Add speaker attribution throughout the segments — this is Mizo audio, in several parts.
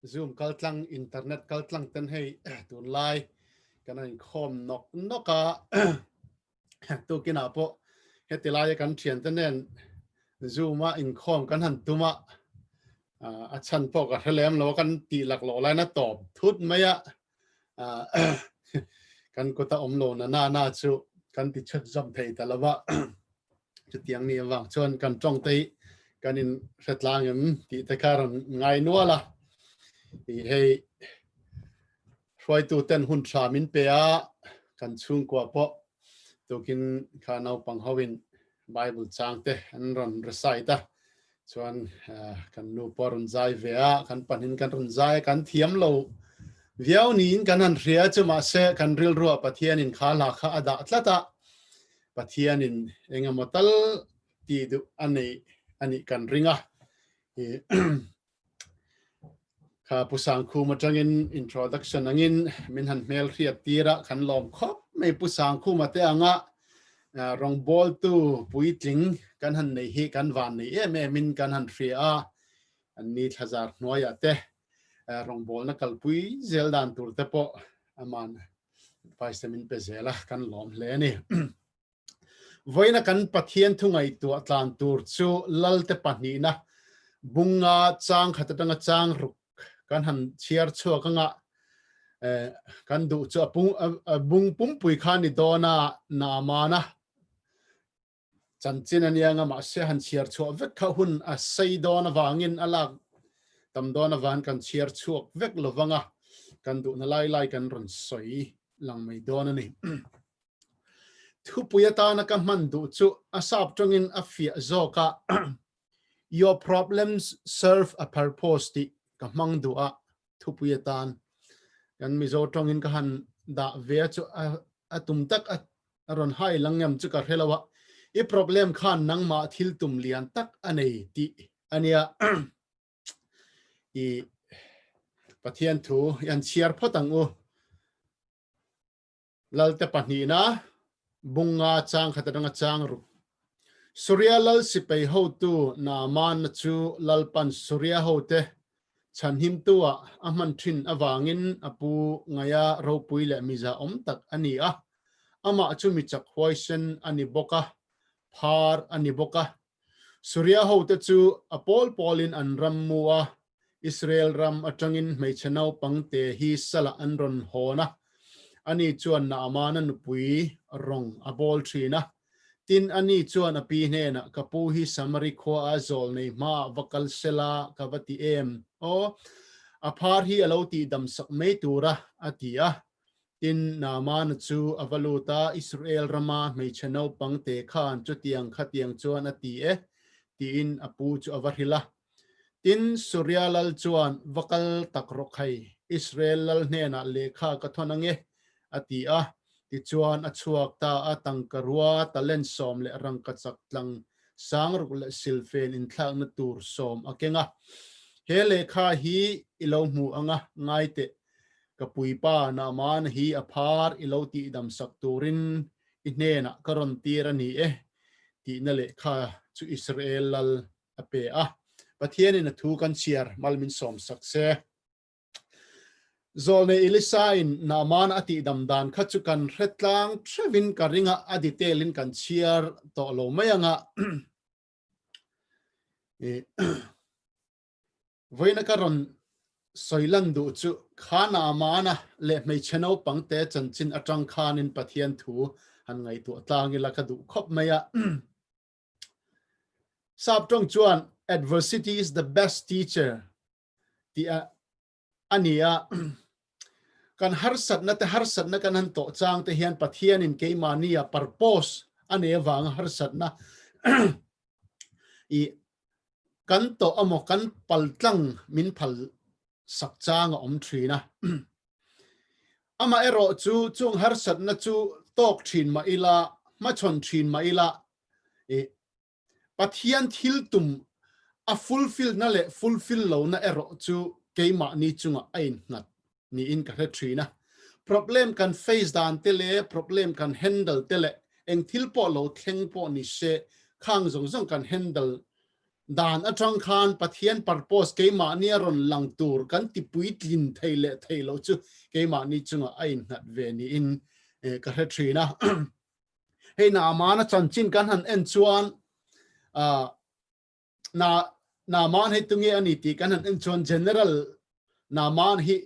Speaker 1: Zoom kaltlang internet kaltlang ten hei tunlai kan an khom nok nok a tu kina po hetilai kan thian te nen zoom a in khom kan han tuma a chan po ka hrelem lo kan ti lak lo lai na top thut mai a kan kut a awm lo na nana chu kan ti chhep zawm thei ta lo va, chutiang mi avang chuan kan tawngte hi kan in hre tlang em tih te kha a rawn ngai nual a, i hei hruaitu ten hun thra min pe a kan chhungkua pawh tukin kha naupang ho in Bible chang te an rawn recite a, chuan kan nu pawh a rawn zai ve a, kan pahnin kan rawn zai a, kan thiam lo viau niin kan han hria a, chumahse kan rilruah Pathianin kha hla kha a dah tlat a, Pathianin engemaw tal tih duh a neih a nih kan ring a. Kha Pu Sangkhum atangin introduction angin min han hmel hriat tira khan lawm khawp mai Pu Sangkhum ate anga rawngbawl tu puitling kan han nei hi kan van nei em em in kan han hria a an ni thlazar hnuai a te rawngbawl na kalpui zel dan tur te pawh aman advice min pe zela kan lawm hle ni Vawiina kan Pathian thungaitua tlan tur chu lalte pahnihna bunga chang khat atanga chang ruk kan han chhiar chhuak anga kan duh chu a bung pumpui kha ni dawn a, na mana chanchin a nia anga mahse han chhiar chhuah vek kha hun a sei dawn avangin a lak tam dawn avangin kan chhiar chhuak vek lovanga kan duhna lai lai kan rawn sawi lang mai dawn a ni. Thupui atana ka hman duh chu a sap tangin a fiah zawk a, Your problems serve a purpose tih ka hmang duh a, thupui atan kan Mizo tangin ka han dah ve a chu a tum tak a rawn hai lang em chu ka hre lo a, i problem khan nangmah thil tum lian tak a nei tih a nia. I Pathian thu i han chhiar phawt ang u. Lalte pahnihna, Bunga chang khat atanga chang ruk. Suria lal sipei hotu na manna chu lalpan Suria hote chhanhimtua a hman thin avangin a pu ngaia ropui leh mizahawm tak a ni a. Amah chu mi chak huaisen a ni bawk a, phar a ni bawk a, Suria hote chu a pawl pawlin an ram mu a, Israel ram atangin hmeichhe naupang te hi salah an rawn hawn a, ani chuan Naamana nupui rawng a bawl thin a. Tin, ani chuan a pi hnenah, Ka pu hi Samari khuaa zawl nei hmaah va kal se la ka va ti em aw? A phar hi a lo tihdamsak mai tura a ti a, Tin, Naamana chu a va lut a, Israel rama hmeichhe naupang te khan chutiang khatiang chuan a ti e, tiin a pu chu a va hrilh a. Tin, Surya lal chuan va kal tak rawh khai, Israel lal hnenah lehkha ka thawn ange, a ti a. Tichuan, a chhuak ta a tangka rua, talent sawm leh rangkachak tlang sang ruk leh silfen inthlakna tur sawm a keng a. He lehkha hi i lo hmuh anga ngai teh, Ka puipa na amana hi a phar i lo tihdam sak turin i hnenah ka rawn tir a ni e tihna lehkha chu Israel lal a pe a, Pathianin a thu kan chhiar mal min sawm sak se. Zawl nei Elisa-in na amana a tihdam dan kha chu kan hre tlang thevin ka ringa a detail in kan chhiar tawh lo mai ang a. Vawiina ka rawn sawi lan duh chu khana amana leh hmeichhe naupangte chanchin atang khanin Pathian thu han ngaihtuah tlang ila ka duh khawp mai a. Sap tawng chuan Adversity is the best teacher tih a ni a. Kan harsatnate harsatna kan han tawh changte hian Pathianin keimahnia purpose a nei avanga harsatna ih kan tawh emaw kan paltlang min phal sak chang a awm thin a. Amaherawh chu chung harsatna chu tawk thin mah ila, hmachhawn thin mah ila ih Pathian thil tum a fulfill na leh fulfill lo na erawh chu keimahni chungah a innghat niin ka hre thin a. Problem kan face dan te leh problem kan handle te leh eng thil pawh lo thleng pawh ni se, khang zawng zawng kan handle dan atang khan Pathian purpose keimahni a rawn lang tur kan tipui tlin thei leh thei loh chu keimahni chungah a innghat ve niin ka hre thin a. hei na aman a chanchin kan han en chuan a na na man hei tunge ani ti kan han en chuan general na man hi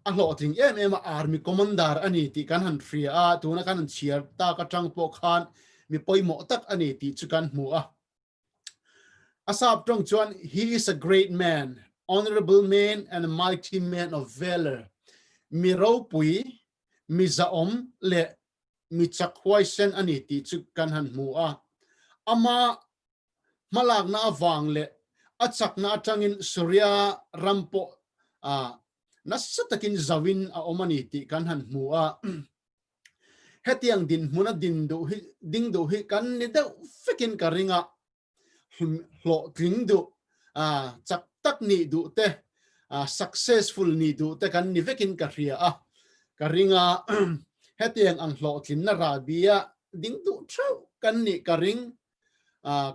Speaker 1: a hloh ting em em army commander ani ti kan han hria a tuna kan han chiar ta ka tang po khan mi poimo tak ani ti chu kan hmu a Asaph tawng chuan He is a great man, honourable man and a mighty man of valour, mi ropui, mi zahawm leh mi chak huaisen a ni tih chu kan han hmu a, ama hmalakna avang leh a chakna atangin Suria ram pawh nasa takin zauhin a awm a ni tih kan han hmu a. Hetiang dinhmun a din duh hi, ding duh hi kan ni deuh vekin ka ring a, hlun hlawh tling duh, chak tak nih duh te, successful nih duh te kan ni vekin ka hria a, ka ring a, hetiang ang hlawhtlinna rabia ding duh theuh kan nih ka ring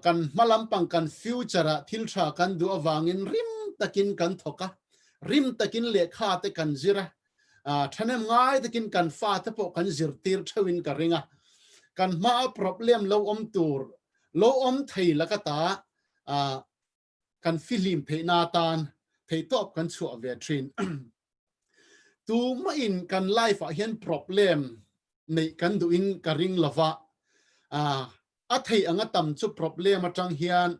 Speaker 1: kan hma lampang kan future ah thil tha kan duh avangin rim takin kan thawk a, rim takin lehkha te kan zir a, thanem ngai takin kan fa te pawh kan zirtir theuhin ka ring a, kan hma a problem lo awm tur, lo awm thei laka ta kan fihlim theihna atan theihtawp kan chhuah ve thin. Tumahin kan life ah hian problem neih kan duh in ka ring lova, a theih anga tam chu problem atang hian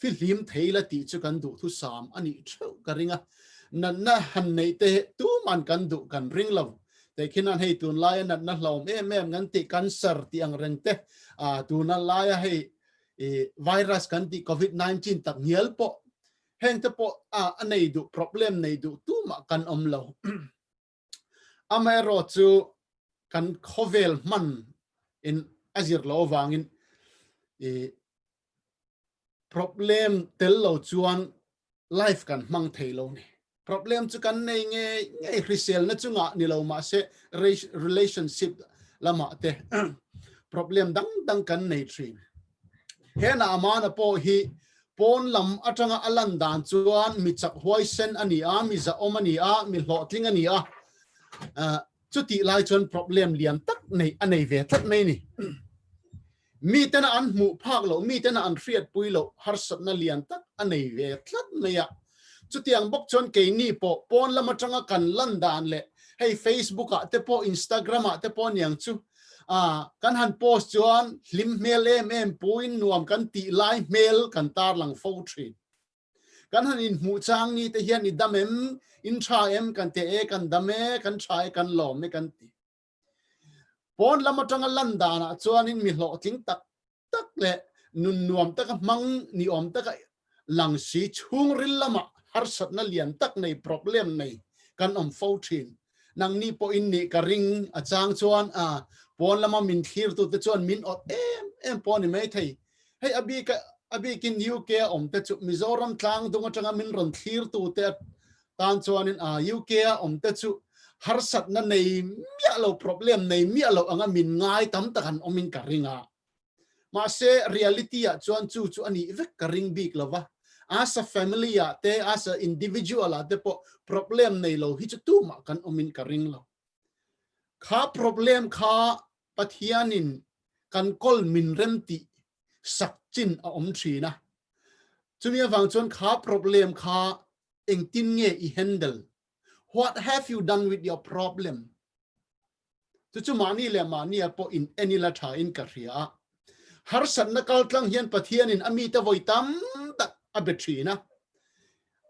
Speaker 1: fihlim thei la tih chu kan duh thu sam a nih theuh ka ring a, natna han neih te tuman kan duh kan ring lo, tikhinah hei tunlaia natna hlawm em em kan tih kan ser tih angreng te, tuna laia hei i virus kan tih covid nineteen tak hnial pawh heng te pawh a a nei duh problem nei duh tumah kan awm lo amaherawh chu kan khawvel hman in a zir lo avangin i problem tel lo chuan life kan hmang thei lo ni Problem chu kan nei ngei ngei hriselna chungah ni lo mah se relationship lamah te problem dang dang kan nei thin. Hena amana pawh hi pawn lam atanga a lan dan chuan mi chak huaisen a ni a, mi zahawm a ni a, mi hlawhtling a ni a, chutih lai chuan problem lian tak nei a nei ve tlat mai a ni. Miten a an hmuh phak loh, miten a an hriatpui loh harsatna lian tak a nei ve tlat mai a. Chutiang bawk chuan keini pawh pawn lam atanga kan lan dan leh hei Facebook-ah te pawh, Instagram-ah te pawh niang chu aah kan han post chuan hlim hmel em em puin nuam kan tih lai hmel kan tar lang fo thin. Kan han inhmuh chang ni te hian i dam em, in tha em kan ti e, kan dam e, kan tha e, kan lawm e kan ti. Pawn lam atanga lan danah chuanin mi hlawhtling tak tak leh nun nuam taka hmang ni awm taka lang si chhungril lama harsatna lian tak nei problem nei kan awm fo thin. Nangni pawhin nih ka ring a chang chuan a pawn lama min thlirtute chuan min awt em em pawh a ni maithei. Hei a bika a bikin UK a awmte chu Mizoram tlangdung atanga min rawn thlirtute Tan chuanin a UK-a awmte chu harsatna nei miah lo, problem nei miah lo anga min ngai tam tak an awmin ka ring a. Mahse, reality-ah chuan chu chu a nih vek ka ring bik lo va. As a family-ah te, as a individual-ah te pawh problem nei lo hi chu tumah kan awmin ka ring lo. Kha problem kha Pathianin kan kawl min rem tih sak chin a awm thin a. Chumi avang chuan kha problem kha engtin nge i handle? What have you done with your problem? Chu chu mahni leh mahnia pawh in eni la thain ka hria a. Harsatna kaltlang hian Pathianin a mite vawi tam tak a be thin a.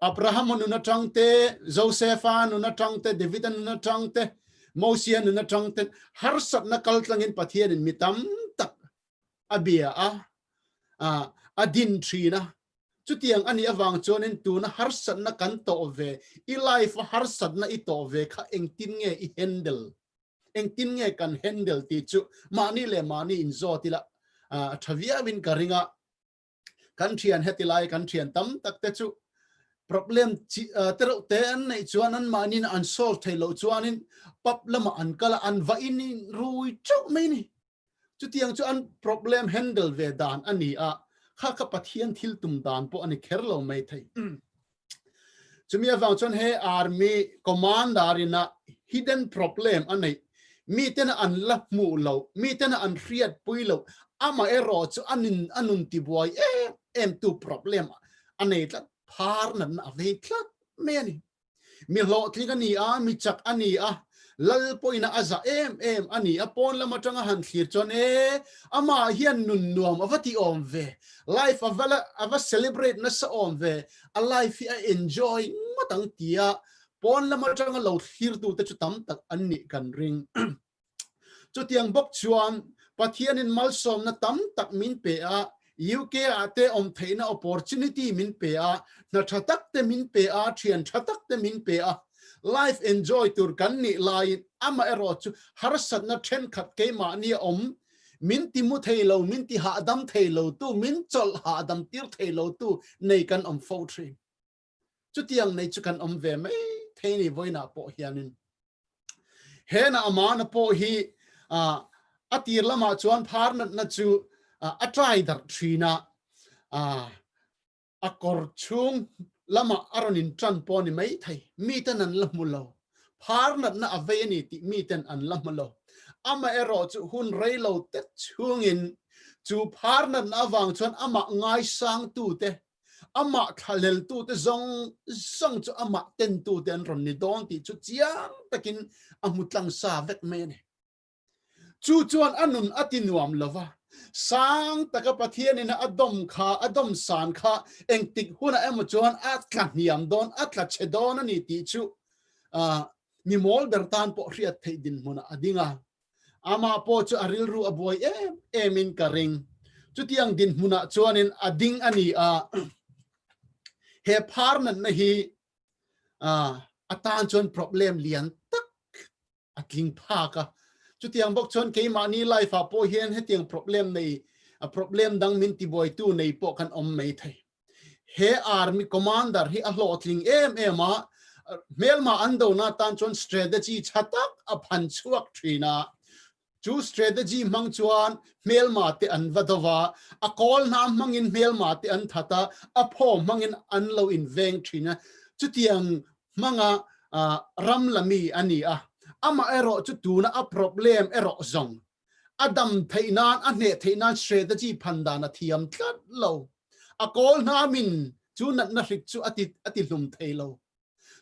Speaker 1: Abrahama nun atang te, Josepha nun atang te, Davida nun atang te, Mosia nun atang ten harsatna kaltlangin Pathianin mi tam tak a bia a, a din thin a. Chutiang a nih avang chuanin tuna harsatna kan tawh ve, i life-a harsatna i tawh ve kha engtin nge i handle, engtin nge kan handle tih chu mahni leh mahniin zawt ila tha viau in ka ring a. kan thian hetilai kan thian tam tak te chu problem chi te reuh te an nei chuan an manin an solve thei lo chuan in pap lama an kala an va in rui chauh mai ni chu tiang chu an problem handle ve dan ani a kha kha pathian thil tum dan pawh ani kher lo mai thei chumi avang chuan he army commander in a hidden problem a nei mi ten a an la hmuh lo mi ten a an hriat pui lo amah erawh chu a nun a nun ti buai em em tu problem a nei tlat phar natna a vei tlat mai a ni mi hlawhtling a ni a mi chak a ni a Lal pawina a zah em em a ni a, pawn lam atanga han thlir chuan e, amah hian nun nuam a va ti awm ve, life a va a va celebrate nasa awm ve, a life hi a enjoy ngawt ang tia pawn lam atanga lo thlirtu te chu tam tak an nih kan ring. Chutiang bawk chuan Pathianin malsawmna tam tak min pe a, UK ah te awm theihna opportunity min pe a, hna tha tak te min pe a, thian tha tak te min pe a, life enjoy tur kan nih laiin amah erawh chu harsatna thenkhat keimahni a awm, min ti mu thei lo, min ti hahdam thei lo tu, min chawlh hahdam tir thei lo tu nei kan awm fo thin. Chutiang nei chu kan awm ve mai thei ni vawiinah pawh hianin hena amahna pawh hi a tir lamah chuan phar natna chu a try darh thin a, a kawr chhung lama a rawn in tan pawh a ni mai thei, miten an la hmu lo, phar natna a vei a ni tih miten an la hmu lo, amaherawh chu hun rei lo te chhungin chu phar natna avang chuan amah ngaisangtute Amah thla leltute zawng zawng chu Amah tentute an rawn ni dawn tih chu chiang takin a hmu tlang sa vek mai a ni. Chu chuan a nun a ti nuam lo va, sang taka Pathianin a dawm kha, a dawm san kha engtik hunah emaw chuan a tla hniam dawn, a tla che dawn a ni tih chu mi mawl ber tan pawh hriat theih dinhmunah a ding a. Amah pawh chu a rilru a buai em em in ka ring. Chutiang dinhmun ah chuan in a ding a ni a. He phar natna hi a tan chuan problem lian tak a tling phak a. Chutiang bawk chuan keimahni life ah pawh hian hetiang problem nei, problem dang min ti buai tu nei pawh kan awm mai thei. he army commander hi a hlawhtling em em a, hmelma an dona tan chuan strategy tha tak a phan chhuak thin a, chu strategy hmang chuan hmelma te an va do va, a kawl hna hmangin hmelma te an that a, a phaw hmangin an lo in veng thin a, chutiang hmanga ram la mi a ni a, amaherawh chu tuna a problem erawh zawng a dam theih nan, a hneh theih nan strategy phan dan a thiam tlat lo. A kawl hna min chu natna hrik chu a ti hlum thei lo.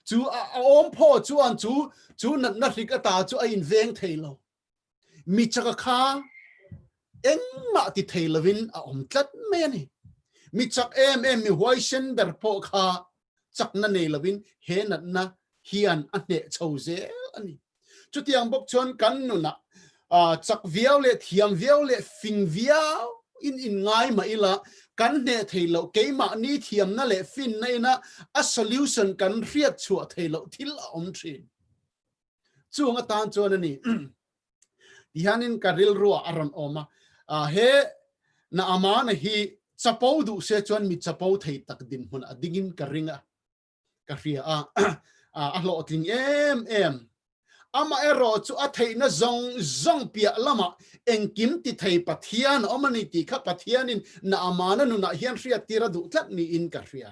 Speaker 1: Chu a awm phaw chuan chu chu natna hrik ata chu a in veng thei lo. Mi chaka kha engmah ti thei lovin a awm tlat mai a ni. Mi chak em em mi huaisen ber pawh kha chakna nei lovin he natna hian a hneh chho zel a ni. Chutiang bawk chuan kan nunah chak viau leh thiam viau leh fin viauin inngai mah ila kan hneh thei loh keimahni thiamna leh finna ina a solution kan hriat chhuah thei loh thil a awm thin. Chung atan chuan a ni ti hianin ka rilrua a rawn awm a, he na amana hi chapo duh se chuan mi chapo thei tak dinhmun a dingin ka ring a, ka hria a, a hlawhtling em em. Amaherawh chu a theihna zawng zawng piah lamah engkim ti thei Pathian a awm a ni tih kha Pathianin na amana nunah hian hriattir a duh tlat niin ka hria.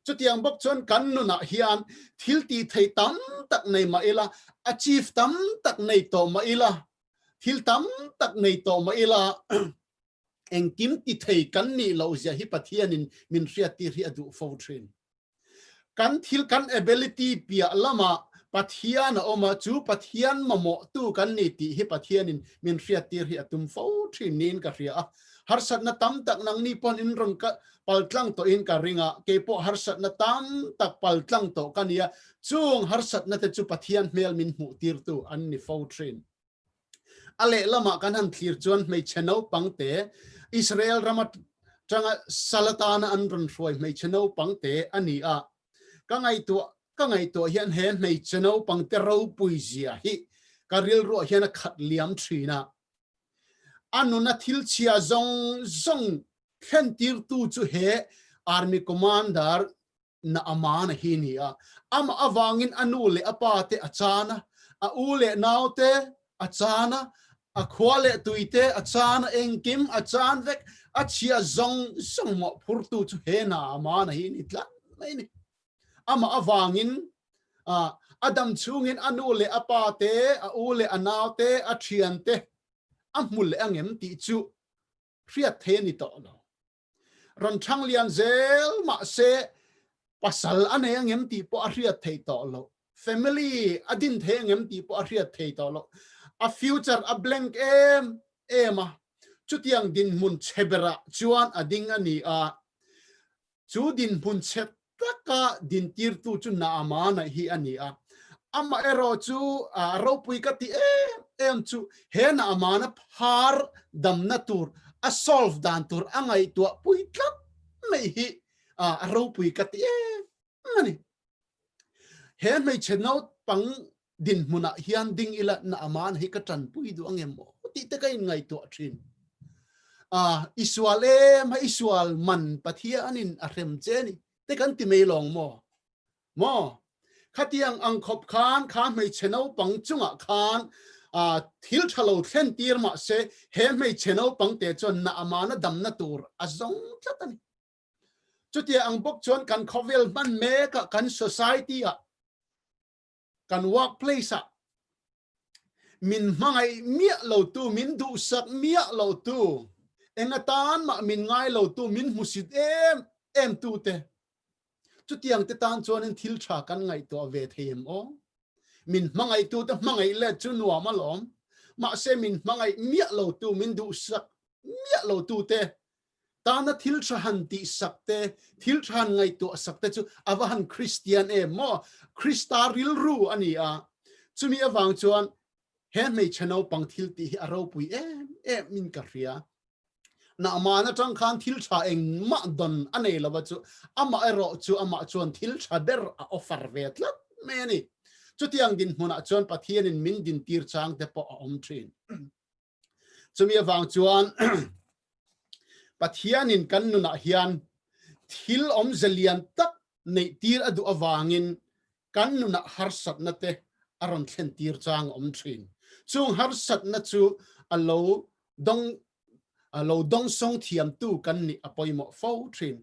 Speaker 1: Chutiang bawk chuan kan nunah hian thil ti thei tam tak nei mah ila, achieve tam tak nei tawh mah ila, thil tam tak nei tawh mah ila engkim ti thei kan nih loh zia hi Pathianin min hriat tir hi a duh fo thin. Kan thil kan ability piah lamah Pathian a awm a, chu Pathian mamawhtu kan ni tih hi Pathianin min hriat tir hi a tum fo thin niin ka hria a, Harsatna tam tak nang ni pawn in rawn ka pal tlang tawh in ka ring a, kei pawh harsatna tam tak pal tlang tawh ka ni a, chung harsatna te chu Pathian hmel min hmuh tir tu an ni fo thin. A leh lamah kan han thlir chuan hmeichhe naupang te Israel ram a tanga sal atana an rawn hruai hmeichhe naupang te a ni a, ka ngaihtuah ka ngaihtuah hian he hmeichhe naupang te ropui zia hi ka rilruah hian a khat liam thin a, a nuna thilchhia zawng zawng thlentirtu chu he Army Commander Naamana hi ni a, amah avangin a nu leh a pa te a chan a, a u leh nau te a chan a, a khua leh tui te a chan a, engkim a chan vek, a chhia zawng zawng mawhphurtu chu he Naamana hi ni tlat mai ni. Amah avangin a, Adam chungin a nu leh a pa te, a u leh a nau te, a thian te a hmu leh ang em tih chu hriat theih a ni tawh lo. Rawn thang lian zel mah se pasal a nei ang em tih pawh a hriat theih tawh lo, family a din theih ang em tih pawh a hriat theih tawh lo. A future a blank em em a, chutiang dinhmun che berah chuan a ding a ni a. Chu dinhmun chhet taka dintirtu chu Naamanaih hi a ni a, amah erawh chu a ropui ka ti em em chu he Naamana phar damna tur, a solve dan tur a ngaihtuah pui tlat mai hi a ropui ka ti em em a ni. He hmeichhe nautpang dinhmunah hian ding ilatna aman hi ka tanpui duh ang emaw tih te ka inngaihtuah thin a i sual em a i sual man Pathianin a hrem che ni te kan ti mai lawng maw maw khatiang ang khawp khan kha hmeichhe naupang chungah khan a thil tha lo thlen tir mah se he hmeichhe naupang te chuan na amana damna tur a zawng tlat a ni chutia ang bawk chuan kan khawvel hman mekah kan society ah Kan workplace ah min hmangaih miah lo tu, min duhsak miah lo tu, enga tan mah min ngai lo tu, min hmusit em em tu te, chutiang te tan chuan in thil tha kan ngaihtuah ve thei em aw? Min hmangaih tu te hmangaih let chu nuam alawm, mahse min hmangaih miah lo tu, min duhsak miah lo tu te Tana thil tha han tih sak te, thil tha han ngaihtuah sak te chu a va han Kristian em maw? Krista rilru a ni a. Chumi avang chuan he hmeichhe naupang thil tih hi a ropui em em in ka hria. Nahman atang khan thil tha engmah dawn a nei lova chu amah erawh chu amah chuan thil tha ber a offer ve tlat mai a ni. Chutiang dinhmunah chuan Pathianin min dintir changte pawh a awm thin. Chumi avang chuan Pathianin kan nunah hian thil awmze lian tak neihtir a duh avangin kan nunah harsatna te a rawn thlentir chang a awm thin. Chung harsatna chu a lo dawng a lo dawng sawng thiamtu kan nih a pawimawh fo thin.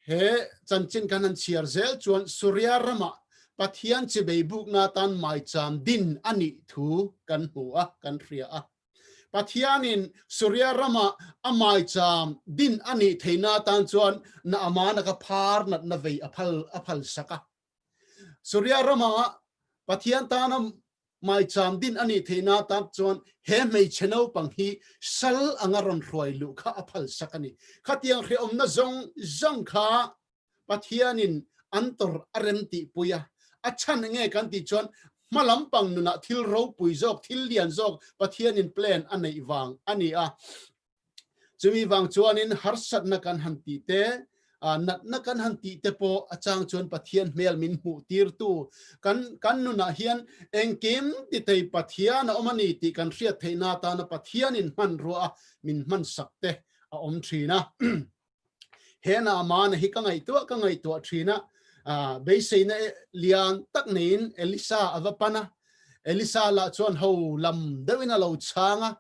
Speaker 1: He chanchin kan han chhiar zel chuan Suria rama Pathian che beibukna atan maicham din a nih thu kan hmu a, kan hria a. Pathianin Suria rama a maicham din a nih theihna atan chuan na amana ka phar natna vei a phal a phalsak a. Suria ramah Pathian tana maicham din a nih theihna atang chuan he hmeichhe naupang hi sal anga rawn hruai luh kha a phalsak a ni. Khatiang hrehawmna zawng zawng kha Pathianin an tawrh a rem tihpui a. A chhan nge kan tih chuan hma lampang nunah thil ropui zawk, thil lian zawk Pathianin plan a neih vang a ni a. Chumi vang chuanin harsatna kan han tih te, natna kan han tih te pawh a chang chuan Pathian hmel min hmuh tirtu kan kan nunah hian engkim titei Pathian a awm a ni tih kan hriat theihna atana Pathianin hmanruaah min hmansak te a awm thin a. Hena mana hi ka ngaihtuah ka ngaihtuah thin a, beiseina lian tak neiin Elisa a va pan a, Elisa lah chuan ho lam deuhin a lo chhang a,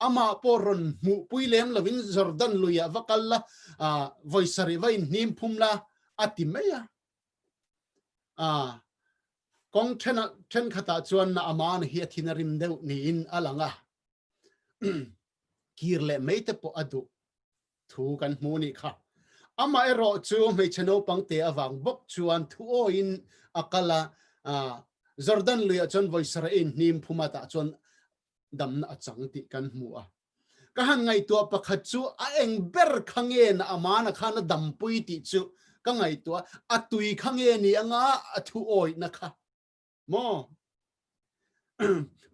Speaker 1: amah pawh rawn hmuhpui lem lovin Jordan luiah va kal la, vawi sarih va inhnim phum la a ti mai a. Kawng thenkhatah chuan na amana hi a thin a rim deuh niin a lang a, kir leh mai te pawh a duh Thu kan hmu nih kha, amah erawh chu hmeichhe naupang te avang bawk chuan thu awiin a kal a, Jordan luiah chuan vawisaraiin hnim phumat ah chuan damna a chang tih kan hmu a. Ka han ngaihtuah pakhat chu a eng ber kha nge na amana khan a dampui tih chu ka ngaihtuah a, a tui kha nge ni anga a thu awihna kha. maw?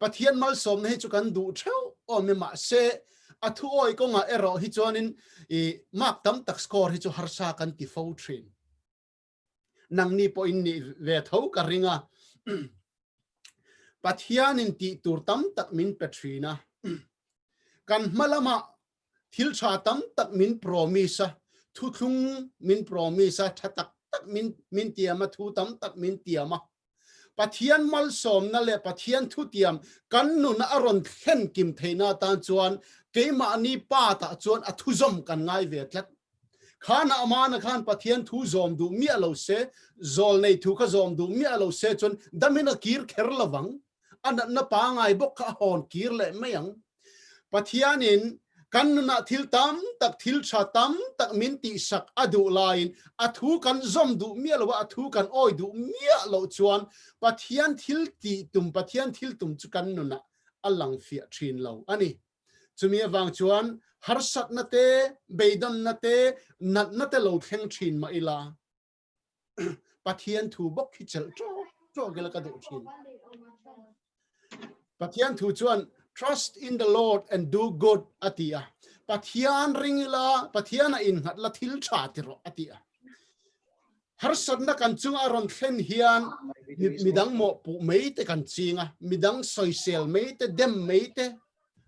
Speaker 1: Pathian malsawmna hi chu kan duh theuh awm em mah se a thuawi kawngah erawh hi chuanin i mark tam tak score hi chu harsa kan ti fo thin. Nangni pawhin nih ve tho ka ring a. Pathianin tih tur tam tak min pe thin a. Kan hma lamah thil tha tam tak min promise a, thuthlung min promise a, tha tak tak min min tiam a, thu tam tak min tiam a, Pathian malsawmna leh Pathian thutiam kan nun a rawn thlen kim theihna atan chuan keimahni pâtah chuan a thuzawm kan ngai ve tlat. Khâ nâ mâna khân Pathian thu zawm duh miah lo se, zawl nei thu kha zawm duh miah lo se chuan damin a kîr kher lovang. a natna pangai bawk kha a hawn kir leh mai ang. Pathianin kan nunah thil tam tak, thil tha tam tak min tihsak a duh laiin a thu kan zawm duh miah lo a, a thu kan awi duh miah loh chuan Pathian thil tih tum, Pathian thil tum chu kan nunah a lang fiah thin lo a ni. Chumi avang chuan harsatna te, beidawnna te, natna te lo thleng thin mah ila. Pathian thu bawk khi chelh trawh trawh kila ka duh thin. Pathian thu chuan trust in the Lord and do good atia. Pathian ringila Pathiana in ngat la thil tha tiro atia. Harsatna kan chung a ron thlen hian midang mo pu mei te kan chinga midang soisel mei te dem mei te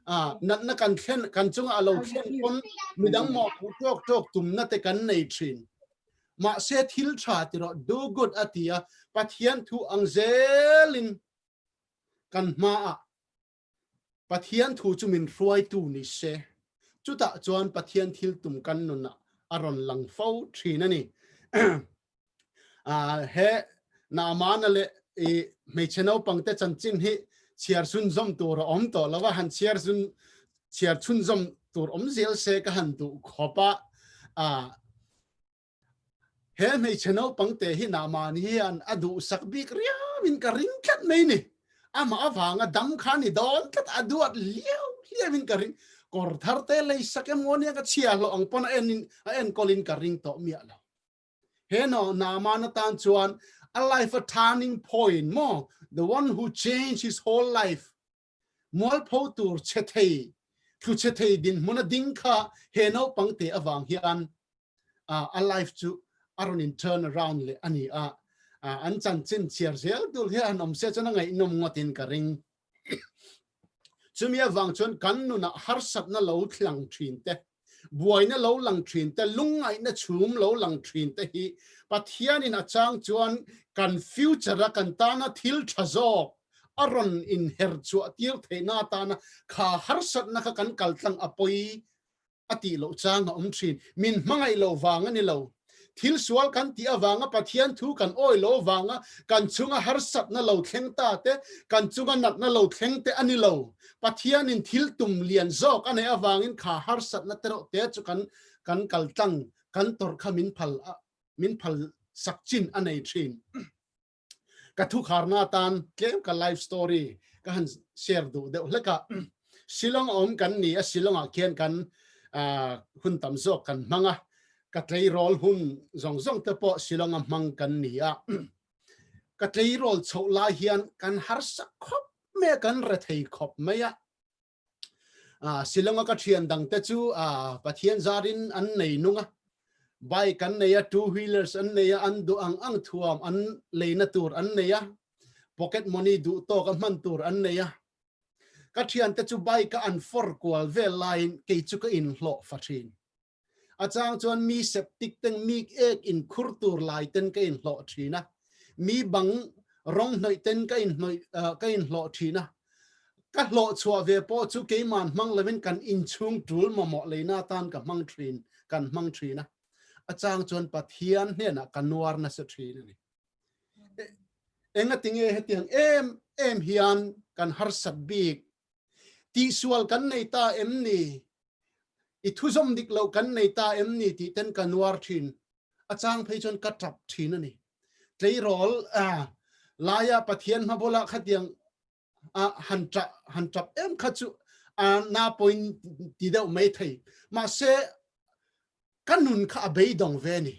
Speaker 1: a natna kan thlen kan chung a lo thlen kon midang mo pu tok tok tumna te kan nei thin Mahse thil tha ti rawh, do good a ti a, Pathian thu ang zelin kan hmaah Pathian thu chu min hruaitu ni se. Chutah chuan Pathian thil tum kan nunah a rawn lang fo thin a ni. He Naamana leh hmeichhe naupangte chanchin hi chhiar sunzawm tur a awm tawh lo va, han chhiar sun chhiar chhun zawm tur awm zel se ka han duh khawp a, ah he hmeichhe naupang te hi nah mahni hian a duhsak bik riau in ka ring tlat mai ni, amah avanga dam kha ni dawn tlat a duat hliau hliau in ka ring, kawr thar te lei sak em ngaw nia ka chhia hlawh ang pawn a en in a en kawl in ka ring tawh miah lo, he naw nah mahna atan chuan a life a turning point maw the one who change his whole life Mualpho tur chhethei, thluchhethei dinhmun a ding kha he naupang te avang hian a life chu a rawn in turn around leh a ni a. An chanchin chhiar zel dul hi a han awm se chuan a ngaihnawm ngawtin ka ring. Chumi avang chuan kan nunah harsatna lo thlang thin teh. buaina lo lang thin te, lungngaihna chhum lo lang thin te hi Pathianin a chang chuan kan future-a kan tana thil tha zawk a rawn inherchhuah tir theihna atana kha harsatna kha kan kaltlang a pawi a tih loh chang a awm thin. Min hmangaih lo vang a ni lo. Thil sual kan tih avanga Pathian thu kan awi lo vanga kan chunga harsatna lo thleng ta te, kan chunga natna lo thleng te a ni lo. Pathianin thil tum lian zawk a neih avangin kha harsatna te rawh te chu kan kan kaltlang, kan tawrh kha min phal a min phal sak chin a nei thin. Ka thukharna atan tlem ka life story ka han share duh deuh hlek a, Shillong a awm kan ni a, Shillong ah khian kan hun tam zawk kan hmang a, ka tleirawl hun zawng zawng te pawh Shillong a hmang kan ni a, ka tleirawl chhoh lai hian kan harsa khawp mai a, kan rethei khawp mai a, a Silawnga ka thian dang te chu a Pathian zar in an nei nung a, bike an nei a, two wheelers an nei a, an duh ang ang thuam an lei na tur an nei a, pocket money duh tawk a hman tur an nei a, ka thian te chu bike a an for kual vel lai in kei chu ka in hlawh fa thin. A chang chuan mi septic ten mik ek in khur tur lai ten ka in hlawh thin a, mi bang rawng hnawih ten ka in hnawih ka in hlawh thin a, ka hlawh chhuah ve pawh chu keiman hmang lo in kan in chhung tul mamawh lei na tan ka hmang thin kan hmang thin a, a chang chuan Pathian hnenah ka nuar na se thin a ni. Enga tinge hetiang em em hian kan harsat bik Tihsual kan nei ta em ni? I thuzawm dik loh kan nei ta em ni tih ten ka nuar thin. A chang phei chuan ka tap thin a ni. Tleirawl laia Pathian hmabula khatiang a han tah, han tap em kha chu a na point ti deuh mai thei. Mahse, ka nun kha a beidawng ve a ni.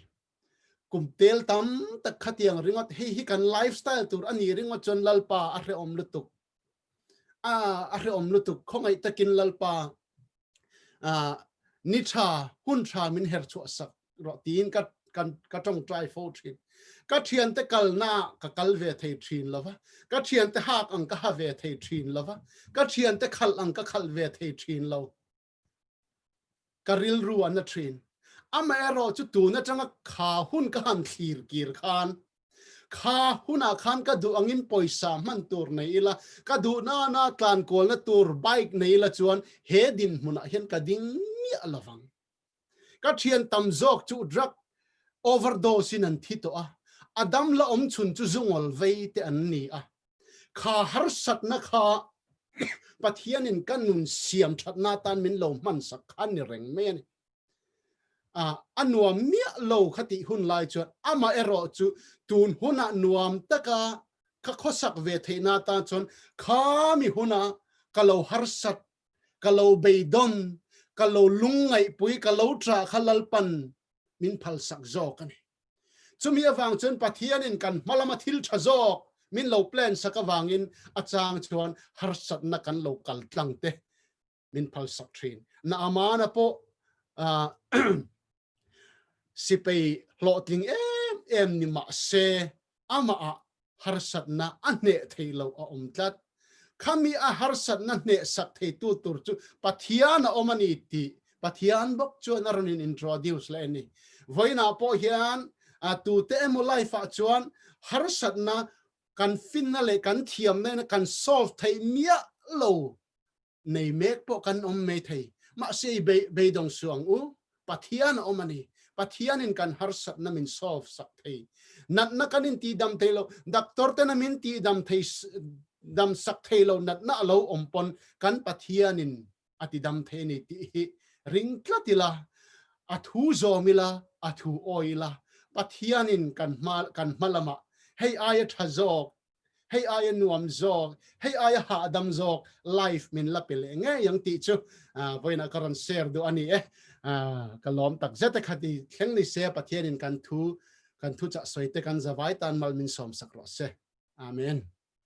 Speaker 1: Kum tel tam tak khatiang ringawt hei hi kan life style tur a nih ringawt chuan Lalpa a hrehawm lutuk a a hrehawm lutuk khawngaih takin Lalpa a ni tha hun tha min her chhuah sak rawh tiin ka kan ka tawng try fo thin ka thian te kalna ka kal ve thei thin lova ka thian te hak ang ka ha ve thei thin lova ka thian te khal ang ka khal ve thei thin lo ka rilru an la thin. Amaherawh chu tun atanga kha hun ka han thlir kir khan kha hunah khan ka duh angin pawisa hman tur nei ila, ka duh nana tlankualna tur bike nei ila chuan he dinhmunah hian ka ding miah lovang. Ka thian tam zawk chu drug overdose-in an thi tawh a, a dam la awm chhun chu zungawlvei te an ni a. Kha harsatna kha Pathianin ka nun siam thatna atan min lo hmansak kha ni reng mai a ni. A, a nuam miah lo kha tih hun lai chuan amah erawh chu tun huna nuam taka ka khawsak ve theihna atan chuan kha mi huna ka lo harsat, ka lo beidawn, ka lo lungngaihpui, ka lo ṭah kha lalpan min phalsak zawk a ni. Chumi avang chuan Pathianin kan hmalama thil tha zawk min lo plan sak avangin a chang chuan harsatna kan lo kal tlang te min phal sak thin. Na Amana pawh sipei hlawhtling em em ni mahse amahah harsatna a hneh thei lo a awm tlat. Khami a harsatna hnehsak theitu tur chu Pathian a awm a ni tih Pathian bawk chuan a rawn in introduce leh a ni. Vawiinah pawh hian tute emaw life-ah chuan harsatna kan finna leh kan thiamna ina kan solve theih miah lo nei mek pawh kan awm mai thei. Mahse i beih beidawng su ang u, Pathian a awm a ni. Pathianin kan harsatna min solve sak thei. Natna kan inti dam thei lo, doctor tena min ti dam thei dam sak thei lo natna a lo awm pawn kan Pathianin a ti dam thei a ni tih hi ring tlat ila, a thu zawm ila, a thu awi ila, Pathianin kan hma kan hma lamah hei aia tha zawk hei aia nuam zawk, hei aia hahdam zawk life min la pe leh ngei ang tih chu vawiinah ka rawn share duh a ni e. Ka lawm tak zet e khat i thleng ni se Pathianin kan thu kan thuchah sawite kan zavai tan mal min sawmsak rawh se. Amen.